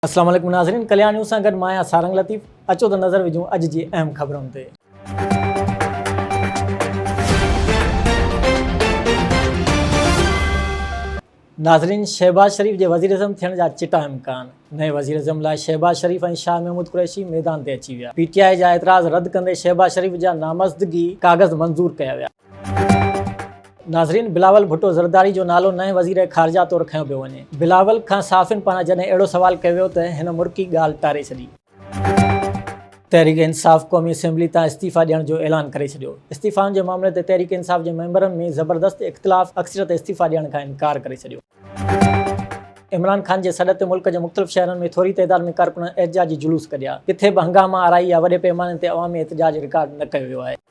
اسلام عليڪم ناظرين ڪليان نيوز سان گڏ مان آهيان سارنگ لطيف اچو ته نظر وجهون اڄ جي اهم خبرن تي. ناظرين شهباز شريف جي وزيراعظم ٿيڻ جا چٽا امڪان، نئين وزيراعظم لاء شهباز شريف ۽ شاهه محمود قريشي ميدان تي اچي ويا، پي ٽي آء جا اعتراض رد ڪندي شهباز شريف جا نامزدگي ڪاغذ منظور ڪيا ويا. ناظرين بلاول ڀٽو زرداري جو نالو نئين وزير خارجه طور کنيو پيو وڃي، بلاول کان صحافين پاران جڏهن اهڙو سوال ڪيو ويو ته هن مرڪي ڳالهه ٽاري ڇڏي. تحريڪ انصاف قومي اسيمبلي تان استعيفا ڏيڻ جو اعلان ڪري ڇڏيو، استعيفائن جي معاملي تي تحريڪ انصاف جي ميمبرن ۾ زبردست اختلاف، اڪثريت استعيفا ڏيڻ کان انڪار ڪري ڇڏيو. عمران خان جي سڏ تي ملڪ جي مختلف شهرن ۾ ٿوري تعداد ۾ ڪارڪنن احتجاجي جلوس ڪڍيا، ڪٿي به هنگاما آرائي يا وڏي پيماني تي عوامي احتجاج رڪارڊ نه ڪيو ويو آهي.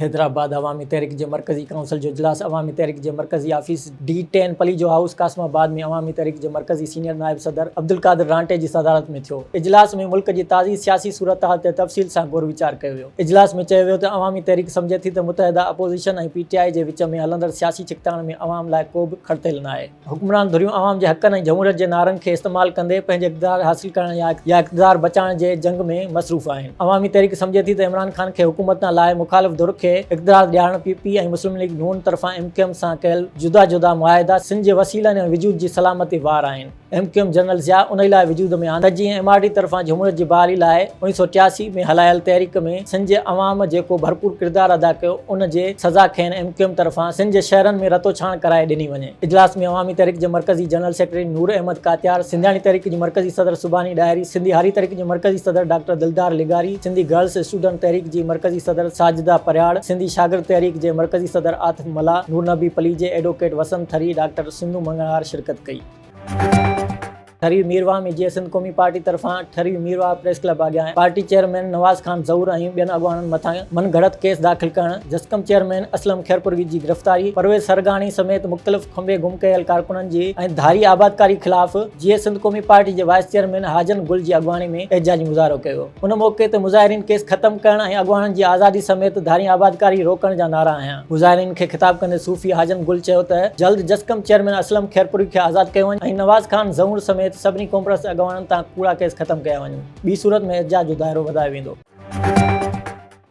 حيدرآباد، عوامي تحريڪ جي مرڪزي ڪائونسل جو اجلاس عوامي تحريڪ جي مرڪزي office D ten Palijo house Qasimabad ۾ Awami Tehreek جي مرڪزي سينيئر نائب صدر عبدالقادر رانٽي جي صدارت ۾ ٿيو اجلاس ۾ ملڪ جي تازي سياسي صورتحال تي تفصيل سان غور ويچار ڪيو ويو اجلاس ۾ چيو ويو ته عوامي تحريڪ سمجهي ٿي ته متحده اپوزيشن ۽ پي ٽي آء جي وچ ۾ هلندڙ سياسي ڇڪتاڻ ۾ عوام لاء ڪوبه کڙتيل ناهي. حڪمران ڌريون عوام جي حقن ۽ جمهوريت جي نعرن کي استعمال ڪندي پنهنجي اقتدار حاصل ڪرڻ يا اقتدار بچائڻ جي جنگ ۾ مصروف آهن. عوامي تحريڪ سمجهي ٿي ته عمران خان کي حڪومت تان لاهي مخالف ڌر کي اقتدار ڏيارڻ پي پي ۽ مسلم ليگ نون طرفان ايم ڪيو ايم سان ڪيل جدا جدا معاهدا سنڌ جي وسيلن ۽ وجود جي سلامتي وار آهن. M Q M general Zia انهي لاء وجود ۾ آندي ته جيئن ايم آر ڊي طرفان جمهوريت جي بحالي لاء اوڻيهه سؤ ٽياسي ۾ هلايل تحريڪ ۾ سنڌ جي عوام جيڪو ڀرپور ڪردار ادا ڪيو ان جي سزا کين ايم ڪيو ايم طرفان سنڌ جي شهرن ۾ رتو ڇاڻ ڪرائي ڏني وڃي. اجلاس ۾ عوامي تحريڪ جي مرڪزي جنرل سيڪريٽري نور احمد ڪاتيار، سنڌياڻي تحريڪ جي مرڪزي صدر سبحاني ڏاهري، سنڌي هاري تحريڪ جي مرڪزي صدر ڊاڪٽر دلدار لغاري، سنڌي گرلس اسٽوڊنٽ تحريڪ جي مرڪزي صدر ساجده پرهياڙ، سنڌي شاگرد تحريڪ جي مرڪزي صدر عاطف ملاح، نورنبي پليجي، ايڊووڪيٽ وسند ٿري، ڊاڪٽر سنڌو مڱڻهار شرڪت ڪئي. ٺري ميرواهه ۾ جيئي سنڌ قومي پارٽي طرفان ٺري ميرواهه پريس ڪلب اڳيان پارٽي چيئرمين نواز خان ظهور ۽ ٻين اڳواڻن مٿان من گهڙت ڪيس داخل ڪرڻ، جسقم چيئرمين اسلم خيرپوروي جي گرفتاري، پرويز سرگاڻي سميت مختلف کنڀي گم ڪيل ڪارڪنن جي ۽ ڌاري آبادڪاري خلاف جيئي سنڌ قومي پارٽي جي وائيس چيئرمين حاجن گل جي اڳواڻي ۾ احتجاجي مظاهرو ڪيو. ان موقعي تي مظاهرين ڪيس ختم ڪرڻ ۽ اڳواڻن جي آزادي سميت ڌارين آبادڪاري روڪڻ جا نعرا هنيا. مظاهرين کي خطاب ڪندي صوفي حاجن گل چيو ته جلد جسقم چيئرمين اسلم خيرپوري کي آزاد ڪيو وڃي ۽ نواز خان زئونڙ سميت سڀني قومپرست اڳواڻن تان ڪوڙا ڪيس ختم ڪيا وڃن ٻي صورت ۾ احتجاج جو دائرو وڌايو ويندو.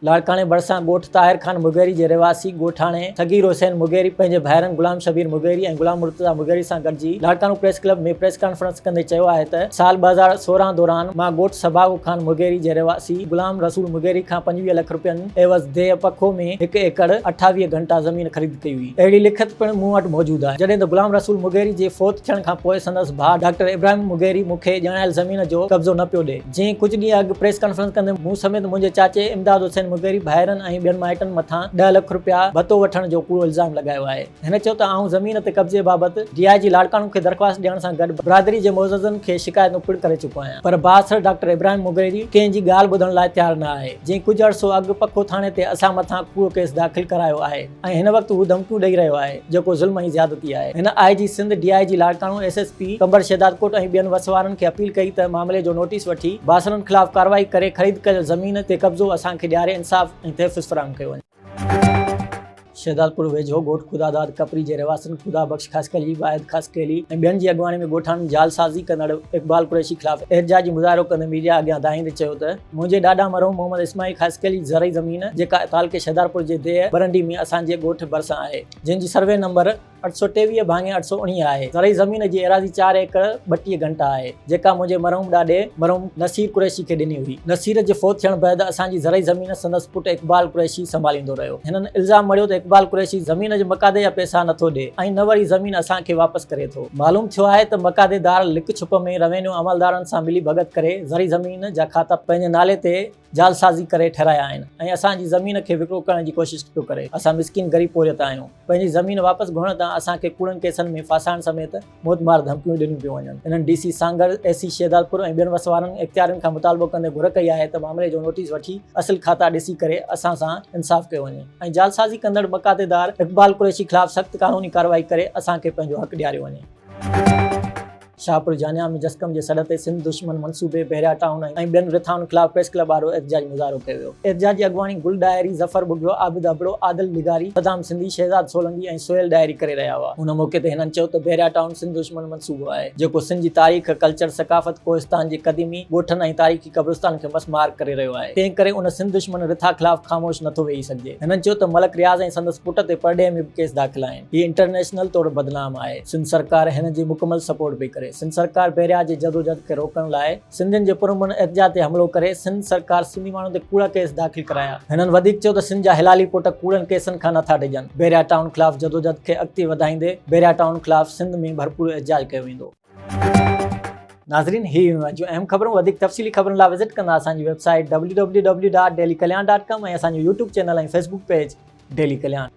لاڙڪاڻي ڀرسان ڳوٺ طاهر خان مغيري جي رهواسي ڳوٺاڻي صغير حسين مغيري پنهنجي ڀائرن غلام شبير مغيري ۽ غلام مرتضيٰ مغيري سان گڏجي Larkana press club ۾ press conference ڪندي چيو آهي ته سال ٻه هزار سورهن دوران مان ڳوٺ سڀاڳو خان مغيري جي رهواسي غلام رسول مغيري کان پنجويهه لک رپين عيوض ديهه پکو ۾ هڪ ايڪڙ اٺاويهه گهنٽا زمين خريد ڪئي هئي اهڙي لکت پڻ مون وٽ موجود آهي جڏهن ته غلام رسول مغيري جي فوت ٿيڻ کان پوء سندس ڀاء ڊاڪٽر ابراهيم مغيري مون کي ڄاڻايل زمين جو قبضو نه پيو ڏئي. جنهن ڪجهه ڏينهن اڳ پريس ڪانفرنس ڪندي مون سميت منهنجي چاچي امداد حسين مغيري ڀائرن ۽ ٻين مائٽن مٿان ڏهه لک رپيا ڀتو وٺڻ جو ڪوڙو الزام لڳايو آهي. هن چيو ته آئون زمين تي قبضي بابت ڊي آء جي لاڙڪاڻو کي درخواست ڏيڻ سان گڏ برادري جي معززن کي شڪايتون پڻ ڪري چڪو آهيان پر بااثر ڊاڪٽر ابراهيم مغيري ڪنهن جي ڳالهه ٻڌڻ لاء تيار نه آهي جنهن ڪجهه عرصو اڳ پکو ٿاڻي تي اسان مٿان ڪوڙو ڪيس داخل ڪرايو آهي. ۽ هن وقت هو ڌمڪيون ڏئي رهيو آهي جيڪو ظلم ۽ زيادتي آهي هن I G Sindh D I G Larkana S S P Qambar Shahdadkot ۽ ٻين وس وارن کي اپيل ڪئي ته معاملي جو نوٽيس وٺي باسرن خلاف ڪارروائي ڪري خريد ڪيل زمين تي قبضو اسان کي ڏياري انصاف ۽ تحفظ فراهم ڪيو وڃي. شهدادپور ويجهو ڳوٺ خدا داد ڪپري جي رهواسين خدا بخش خاصخيلي، واحد خاصخيلي ۽ ٻين جي اڳواڻي ۾ ڳوٺاڻن جعلسازي ڪندڙ اقبال قريشي خلاف احتجاجي مظاهرو ڪندي ميڊيا اڳيان دانهيندي چيو ته، منهنجي ڏاڏا مرحوم محمد اسماعيل خاصخيل جي زرعي زمين جيڪا تعلقي شهدارپور جي ديهه برنڊي ۾ اسان جي ڳوٺ ڀرسان آهي جنهن جي سروي نمبر اٺ سؤ ٽيويهه ڀاڱي اٺ سؤ اڻيهه آهي زرعي زمين جي ايراضي چار ايڪڙ ٻٽيهه گهنٽا آهي جيڪا منهنجي مرحوم ڏاڏي مرحوم نصير قريشي کي ڏني هئي نصير جي فوت ٿيڻ بعد اسان جي زرعي زمين سندس پٽ اقبال قريشي سنڀاليندو رهيو هنن الزام مڙهيو ته اقبال قريشي زمين جي مقادي جا پئسا نٿو ڏي ۽ نه وري زمين اسان کي واپس ڪري ٿو. معلوم ٿيو آهي ته مقاضي دار لڪ ڇپ ۾ روينيو عملدارن سان ملي ڀڳت ڪري زرعي زمين جا کاتا پنهنجي نالي تي جعلسازي ڪري ٺهرايا آهن ۽ اسان جي زمين کي وڪرو ڪرڻ جي ڪوشش پيو ڪري اسان مسڪين غريب پورهيت آهيون پنهنجي زمين واپس گهرڻ تان اسان کي ڪوڙن ڪيسن ۾ ڦاسائڻ سميت موت مار ڌمڪيون ڏنيون پيون وڃن انهن D C Sanghar A C Shahdadpur ۽ ٻين وسوارن اختيارين کان مطالبو ڪندي گهر ڪئي آهي ته معاملي جو نوٽيس وٺي اصل کاتا ڏسي ڪري اسان سان انصاف ڪيو وڃي. ۽ جعلسازي ڪندڙ مقاطعدار اقبال قريشي خلاف سخت قانوني ڪارروائي ڪري اسان کي پنهنجو حق ڏياريو وڃي. شاهپور جانيا ۾ جسقم جي سڏ تي سنڌ دشمن منصوبي بحريا ٽائون ۽ ٻين رٿائن خلاف پريس ڪلب آڏو احتجاجي مظاهرو ڪيو ويو. احتجاج جي اڳواڻي گل ڏاهري، ظفر ٻگهيو، عابد ابڙو، عادل لغاري، صدام سنڌي، شهزاد سولنگي ۽ سهيل ڏاهري ڪري رهيا هئا. ان موقعي تي هنن چيو ته بحريا ٽائون سنڌ دشمن صوبو آهي، جيڪو سنڌ جي تاريخ، ڪلچر، ثقافت، ڪوهستان جي قديمي ڳوٺن ۽ تاريخي قبرستانن کي مس مار ڪري رهيو آهي، تنهن ڪري ان سنڌ دشمن رٿا خلاف خاموش نٿو ويهي سگهجي. هنن چيو ته ملڪ رياض ۽ سندس پٽ تي پرڏيهه ۾ به ڪيس داخل آهن، هي انٽرنيشنل طور بدنام آهي، سنڌ سرڪار هنن جي مڪمل سپورٽ پئي ڪري، سنڌ سرڪار بحريا جي جدوجهد کي روڪڻ لاء. سنڌين جي پرامن احتجاج تي حملو ڪري سنڌ سرڪار سنڌي ماڻهن تي ڪوڙا ڪيس داخل ڪرايا. هنن وڌيڪ چيو ته سنڌ جا حلالي پٽ ڪوڙن ڪيسن کان نٿا ڊڄن، بحريا ٽائون خلاف جدوجھد کي اڳتي وڌائيندي بحريا ٽائون خلاف سنڌ ۾ ڀرپور احتجاج ڪيو ويندو. ناظرين هي هيون اڄ جون اهم خبرون وڌيڪ تفصيلي خبرن لا وزٽ ڪندا اسان جي website W W W dot daily Kalyan dot com ۽ اسان جو YouTube channel ۽ Facebook page daily Kalyan.